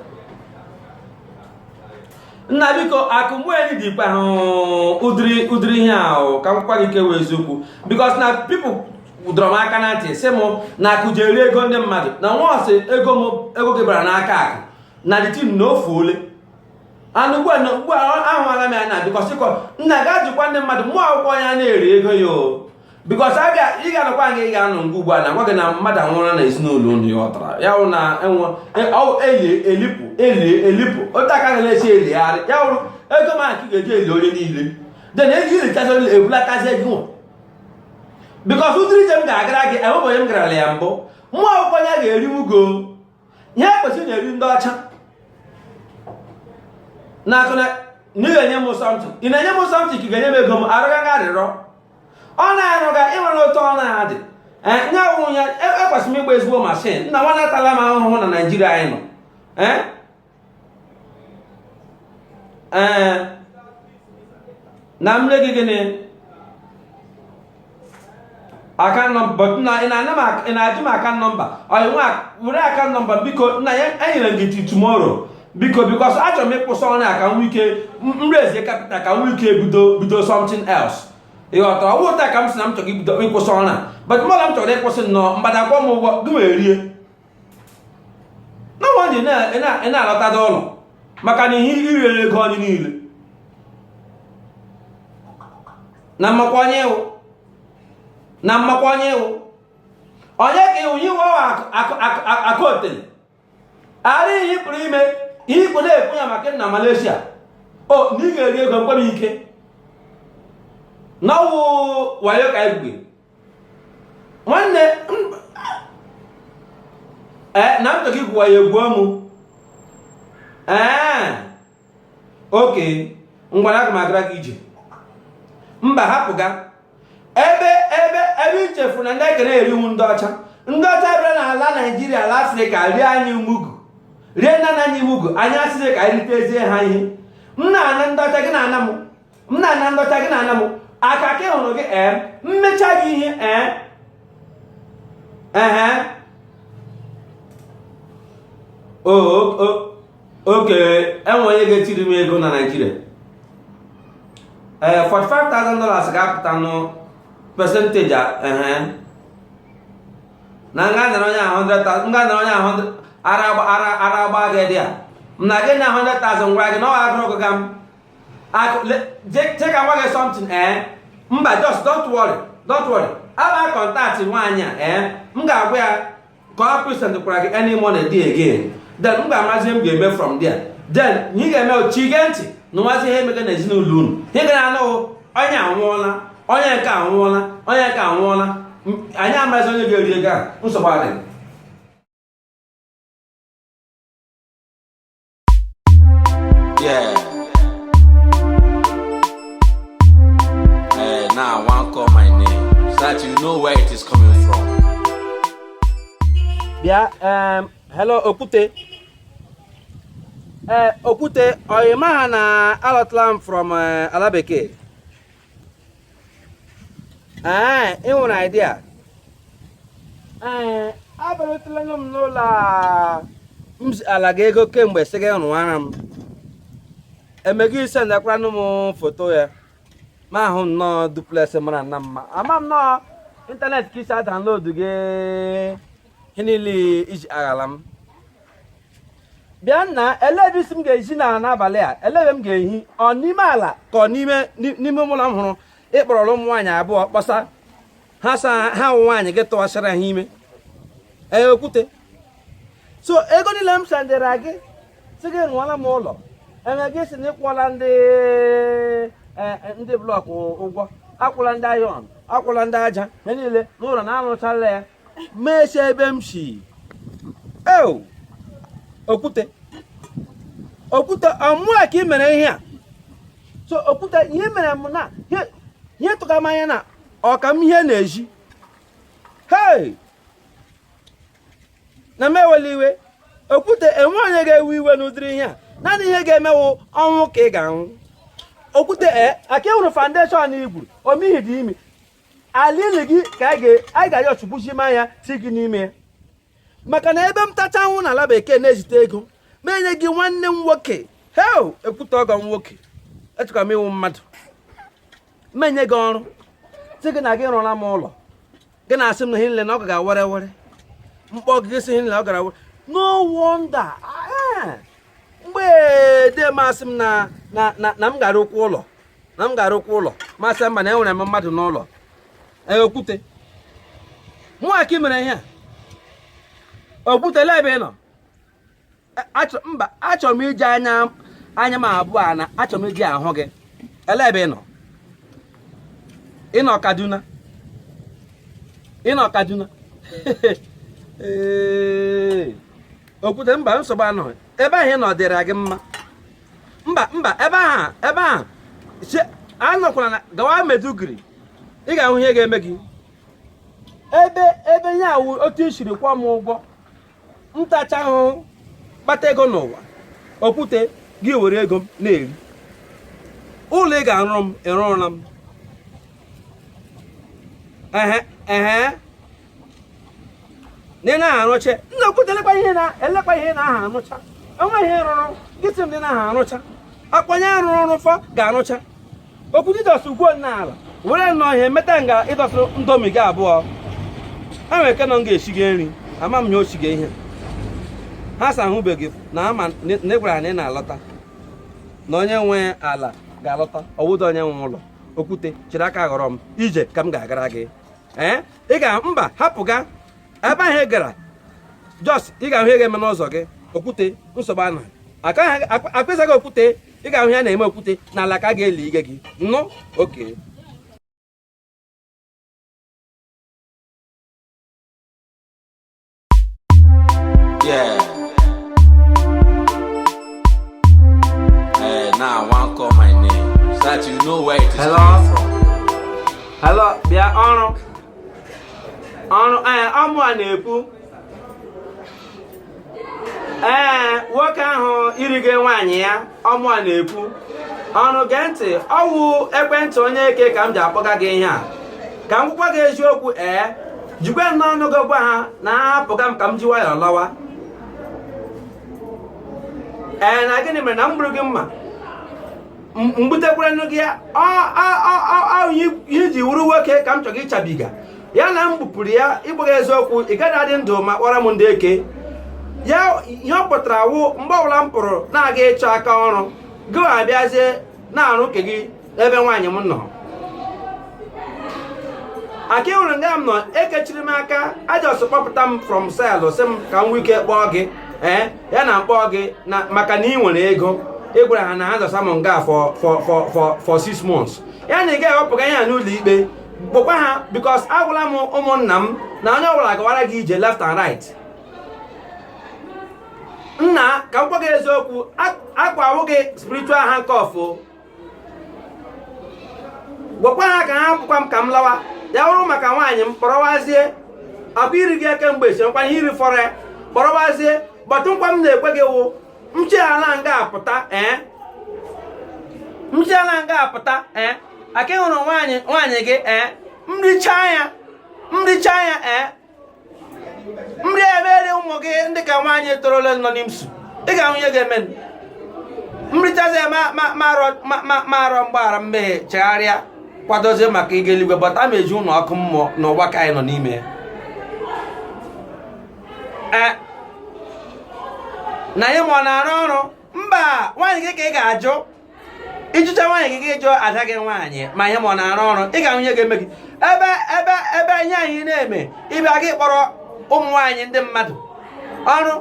nna biko akụ mgbeeli dị ikpe ahụ ụdịrị ụdịrị ihe ahụ ka m gwa gị kwa eziokwu because na people dọrọ m aka na ntị sị m na akụ ji eri ego ndị mmadụ na once ego m ego gị bara n'aka akụ na the thing na o fuole anụ ugbu a na ugbu a ahụala m ya na because ịkọ nna gaa jụkwa ndị mmadụ mụọ akwụkwọ ya na-eri ego ya o because a ga ị ga-anọkwa nga ị ga-anọ nga ugbu a na gwa gị na mmadụ anwụrụ na ezinụlọ unu ya ọtara ya wụ na enwe eli elipụ eli elipụ otu aka ga na-esi eligharị ya wụrụ ego ma ka ị ga-eji eli onye niile then ego ilichazi onye ebulatazi ego nwa because ụdịrị ije m ga-agara gị enwebeghị onye m garala ya mbụ mụọ akwụkwọ ya ga-eri mugu ihe ekwesịrị na-eri ndị ọcha na-akụ na ị ga-enye m something ị na-enye m something ka ị ga-enye m ego m arịọga gị arịrịọ ọ na-arụga ịnwere otu ọ na-adị ihe wụ ya ekwesịrị m ịgba ezigbo mashin nna nwanne atala m ahụhụ na naijiria anyị nọ ee na m nye gị gịnị account number na ị na-ajụ m account number oya nwa were account number biko nna ya enyere m gị till tomorrow biko because achọrọ m ịkwụsị ọrụ a ka m nwee ike raise capital ka m nwee ike bido bido something else ịghọtara ọ wụ ụta ka m si na m chọrọ ibido ịkwụsị ọrụ a but mmadụ m chọrọ ịkwụsị nnọọ mgbada akwọ mugu gị wee rie na nwaanyị na-alọtada ụlọ maka na ihe i riri ego anyị niile na m makwa onye ị wụ na m makwa onye ị wụ onye ka iwu iwe akụ otele ara ihe pụrụ ime ihe ikpo na-ekwu ya maka na Malaysia o na ị ga-eri ego mkpere ike na ọ wụ wayo ka anyị nwanne e, na m chọghị igwu wayo egwuo m ee e, okay ngwanụ aga m agara gị ije mba hapụga ebe ebe ebe ichefu na ndị ekere eri wụ ndị ọcha ndị ọcha bịara n'ala naijiria ala afrịka rie anyị mugu rie nna nna anyị mugu anyị asịrị ka anyị ritezie ha ihe m na-ana ndị ọcha gị na-ana m m na-ana ndọcha gị na-ana m aka ka hụrụ gị ee mmecha gị ihe ee ehe okay enwe onye ga-etiri m ego na naijiria ee 45,000 dollars ga-apụta nụ percentage ehe na m ga-anara onye ahụ 100,000 m ga-anara onye ahụ ara agba gị dị a m na gị na 100,000 gwara gị na ọ agụrụ gị ga m che ka m gwa gị something ee eh? mba just don't worry don't worry aba contact nwaanyị a ee eh? m ga-agwa ya ka ọ present kwara gị any money dị again then m ga-amarazi ihe m ga-eme from there then ị ga-emechi gee ntị nụwazi ihe emega na ezinụlọ unu ị ga na-anụ onye anwụọla onye nke anwụọla onye nke anwụọla anyị amarazi onye ga-eri ego a nsogbu adịghị Yeah. Hey, now I want call my name so that you know where it is coming from. bịa em, hello okwute ee okwute ọ ị maha na alọtala m from eh, ala bekee ee ị nwere idea ee abịarutela m n'ụlọ m zialaga gị ego kemgbe sị gị rụwara m eme gị ị sendịkwaranụ m foto ya m ahụ nnọọ duplex mara nna mma ama m na ọ ịntanetị ka i si download gị ihe niile i ji aghala m bịa nna ele ebe ị sị m ga-ehi n'abalị a ele ebe m ga-ehi ọ n'ime ala ka ọ n'ime n'ime ụlọ m hụrụ ị kpọrọrọ ụmụ nwaanyị abụọ kpọsa ha sa ha ụmụ nwaanyị gị tụwasịrị ha ime ee okwute so ego niile m sendịra gị sị gị rụọla m ụlọ eme gị sị na ị kwụọla ndị e, e, ndị block ụgwọ akwụla ndị iron akwụla ndị aja ha niile na ụlọ na arụchala ya mechie ebe m si eo okwute okwute ọ mụa ka i mere ihe a so okwute ihe mere m na ihe- ihe tụka m anya na ọka m ihe na-eji hei na m ewela iwe okwute enwe onye ga-ewe iwe n'ụdịrị ihe a naanị ihe ga-eme wụ ọnwụ ka ị ga-anwụ okwute e aka ị hụrụ foundation i gwuru omihi dị ime ala ili gị ka anyị ga-ayọ ọchụgbuchi ma ya ti gị n'ime ya maka na ebe m tacha anwụ n'ala bekee na-ezite ego m enye gị nwanne m nwoke hei okwute ọgọ m nwoke echekwa m ị wụ mmadụ m enye gị ọrụ sị gị na gị rụọla m ụlọ gị na-asị m na ihe niile na ọ ga were were m kpọọ gị sị ihe niile ọ gara were no wonder ah, eh. mgbe dee m asị m na na m ga-arụkwa ụlọ na m ga-arụkwa ụlọ m asị mba na enwere m mmadụ n'ụlọ e, okwute mụ a ka ị mere ihe a okwute ele ebe ị nọ e, mba achọrọ m iji anya anya m abụọ a na achọrọ m iji ahụ gị ele ebe ị nọ ị nọ Kaduna ị nọ Kaduna okwute mba nsogbu anọghị ebe ahụ ị nọ dịrị gị mma mba mba ebe ahụ ebe ahụ che- anọkwala na gawa Maiduguri ị ga-ahụ ihe ga-eme gị ebe ebe ihe a wụ otu i siri kwụọ m ụgwọ m tachaa ahụhụ kpata ego n'ụwa okwute gị ewere ego m na-eri ụlọ ị ga-arụrụ m ị rụrụla m ehe ehe na ị na aha arụcha nna okwute elekwa ihe na elekwa ihe na aha arụcha onweghị ihe ị rụrụ gị sị m na ị na aha arụcha akwa onye rụrụ rụfọ ga-arụcha okwute ịdọsụ ugwo n'ala were nnọọ ihe meta nga ịdọsụ ndomi gị abụọ ha nwere ike nọ m ga-esiga nri ama m ya osiga ihe ha sa ahụbeghị na ha ma na ị gwara ha na ị na-alọta na onye nwe ala ga-alọta ọwụda onye nwe ụlọ okwute chịrị aka ghọrọ m ije ka m ga-agara gị ee ị ga mba hapụga ebe ahụ ị gara Jos ị ga-ahụ ihe ga-eme n'ụzọ gị okwute nsogbu anọghị akpịsa gị okwute ị ga-ahụ ya na-eme okwute n'ala ka a ga-eli ige gị nụ oke Yeah. Hey, now I want call my name. So that you know where it is Hello? coming from. Hello, bịa ọrụ. Ọrụ, ee, ọ mụ a na-ekwu. Ee, nwoke ahụ i rige nwaanyị ya ọ mụ a na-ekwu ọrụ gee ntị ọ wụ ekwentị onye eke ka m ji akpọga gị ihe a ka m gwakwa gị eziokwu ee jikwe nnọọ ọnụ gị gwa ha na ahapụga m ka m ji nwayọọ lọwa ee na gịnị mere na m gburu gị mma m gbutekwara nụ gị ya ihe i ji wụrụ nwoke ka m chọrọ ịchabiga ya na m gbupụrụ ya ị gbaghị eziokwu ị gaghị adị ndụ ma kpọrọ m ndị eke ya ihe ọ pụtara wụ mgbe ọbụla m pụrụ na-aga ịchọ aka ọrụ gị abịazie na-arụ nke gị ebe nwaanyị m nọ akwa ị hụrụ nga m nọ ekechiri m aka a just kpọpụta m from cell sị m ka m nwee ike kpọọ gị ee eh, ya na m kpọọ gị na maka na ị nwere ego ị gwara ha na ha zọsa m nga for for for for six months ya na ị gaghị ewepụga ihe a n'ụlọ ikpe kpọkwa ha because agwala m ụmụnna m na onye ọbụla gawara gị ije left and right nna ka m gwa gị eziokwu akwa awụ gị spiritual handcuff gwakwa ha ka ha pụkwa m ka m lawa ya wụrụ maka nwaanyị m kpọrọwazie akwa iri gị eke mgbe chekwa ihe i rifọrọ ya kpọrọwazie but nkwa m na-ekwe gị wụ m jechala nga apụta ee m jechala nga apụta ee ọkwa ị hụrụ nwaanyị nwaanyị gị ee m richaa ya m richaa ya ee nri emere ụmụ gị ndị nke nwaanyị torola nọ n'IMSU ị ga-ahụ ihe ga-eme m richazi ya m arịọ mgbaghara mmehie chegharịa kwadozie maka ịga eluigwe but ma eji ụlọ ọkụ mmụọ n'ụwa ka anyị nọ n'ime ya e, na ihe m a ọ na-arụ ọrụ mba nwaanyị gị ka ị ga-ajụ ị jụcha nwaanyị gị gị jụọ ada gị nwaanyị ma ihe m a ọ na-arụ ọrụ ị ga-ahụ ihe ga-eme gị ebe ebe ebe ihe anyị na-eme ị bịa gị kpọrọ ụmụ nwaanyị ndị mmadụ ọrụ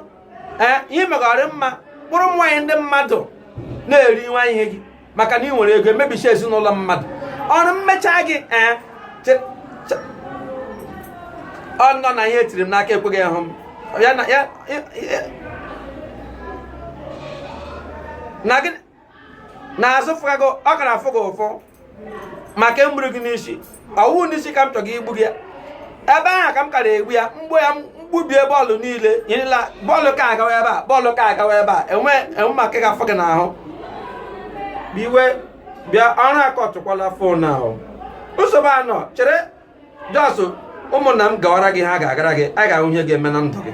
ee ihe megọrị mma kpọrọ ụmụ nwaanyị ndị mmadụ na-eri nwa ihe gị maka na i nwere ego emebisi ezinụlọ mmadụ ọrụ m mecha gị ee ọ nọ na ihe e tiri m n'aka ekweghị ịhụ m ya na ya na gị na-azụ fụga gị ọ gara afụ gị ụfụ maka e gburu gị n'isi ọ wụ n'isi ka m chọrọ igbu gị ya ebe ahụ ka m kara egbu ya m gbuo ya m gbubie bọọlụ niile nyerela bọọlụ ka agawa ebe a bọọlụ ka agawa ebe a enwe enwe maka ọ ga-afụ gị n'ahụ biwe bịa ọrụ akọtụkwala phone ahụ nsogbu anọ chere just ụmụnna m gawara gị ha ga-agara gị a ga-ahụ ihe ga-eme na ndụ gị